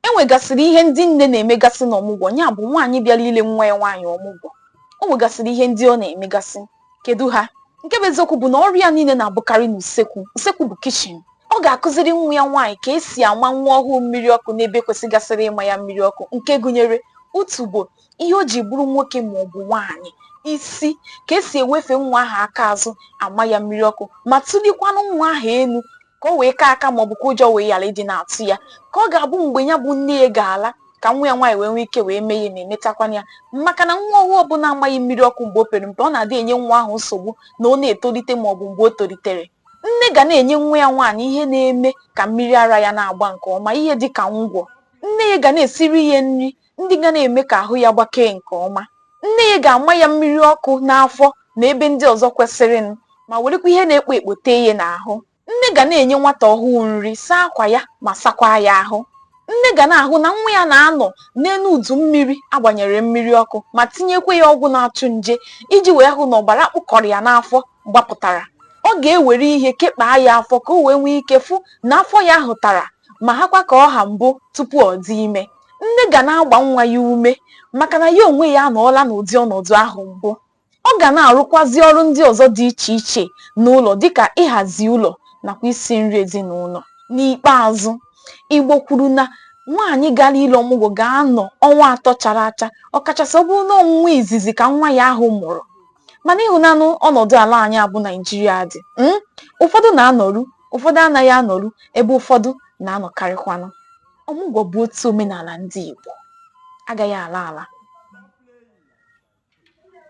E nwegasịrị ihe ndị nne na-emegasị n'ọmụgwọ, ya bụ, nwaanyị bịara ile nwa ya nwaanyị ọmụgwọ, o nwegasịrị ihe ndị ọ na-emegasị. Kedu ha? Nke bụ eziokwu bụ na ọrụ ya niile na-abụkarị n'usekwu. Usekwu bụ kichin. Ọ ga-akụziri nwa ya nwaanyị ka esi ama nwa ọhụụ mmiri ọkụ n'ebe kwesịgasịrị ịma ya mmiri ọkụ, nke gụnyere utubo, ihe o ji bụrụ nwoke ma ọ bụ nwaanyị, isi, ka esi ewefe nwa ahụ aka azụ ama ya mmiri ọkụ, ma tụlikwanụ nwa ahụ elu ka o wee kaa aka ma ọ bụ ka ụjọ wee ghara ịdị na-atụ ya ka ọ ga-abụ mgbe ya bụ nne ya ga-ala ka nwa ya nwaanyị wee nwee ike wee mee ya na-emetakwanụ ya maka na nwa ọhụụ ọbụla amaghị mmiri ọkụ mgbe o pere mpe ọ na-adị enye nwa ahụ nsogbu na ọ na-etolite ma ọ bụ mgbe o tolitere nne ga na-enye nwa ya nwaanyị ihe na-eme ka mmiri ara ya na-agba nke ọma ihe dị ka ngwọ nne ya ga na-esiri ya nri ndị ga na-eme ka ahụ ya gbakee nke ọma. Nne ya ga-ama ya mmiri ọkụ n'afọ na ebe ndị ọzọ kwesịrịnụ ma werekwa ihe na-ekpo ekpo tee ya n'ahụ. Nne ga na-enye nwata ọhụụ nri, saa akwa ya ma sakwaa ya ahụ. Nne ga na-ahụ na nwa ya na-anọ n'elu udu mmiri a gbanyere mmiri ọkụ ma tinyekwa ya ọgwụ na-achụ nje iji wee hụ na ọbara kpụkọrọ ya n'afọ gbapụtara. Ọ ga-ewere ihe kekpaa ya afọ ka o wee nwee ike fụ na afọ ya hụtara ma hakwa ka ọ ha mbụ tupu ọ dị ime. nne ga na-agba nwa ya ume maka na ya onwe ya anọọla n'ụdị ọnọdụ ahụ mbụ. Ọ ga na-arụkwazị ọrụ ndị ọzọ dị iche iche n'ụlọ dịka ịhazi ụlọ nakwa isi nri ezinụlọ. N'ikpeazụ, Igbo kwuru na nwaanyị gara ile ọmụgwọ ga-anọ ọnwa atọ chara acha ọkachasị ọ bụrụ na ọ nwa izizi ka nwa ya ahụ mụrụ. Mana ị hụnanụ ọnọdụ ala anyị a bụ Naijiria dị, hmm, ụfọdụ na-anọru, ụfọdụ anaghị anọru ebe ụfọdụ na-anọkarịkwanụ. ọmụgwọ bụ otu omenala ndị Igbo agaghị ala ala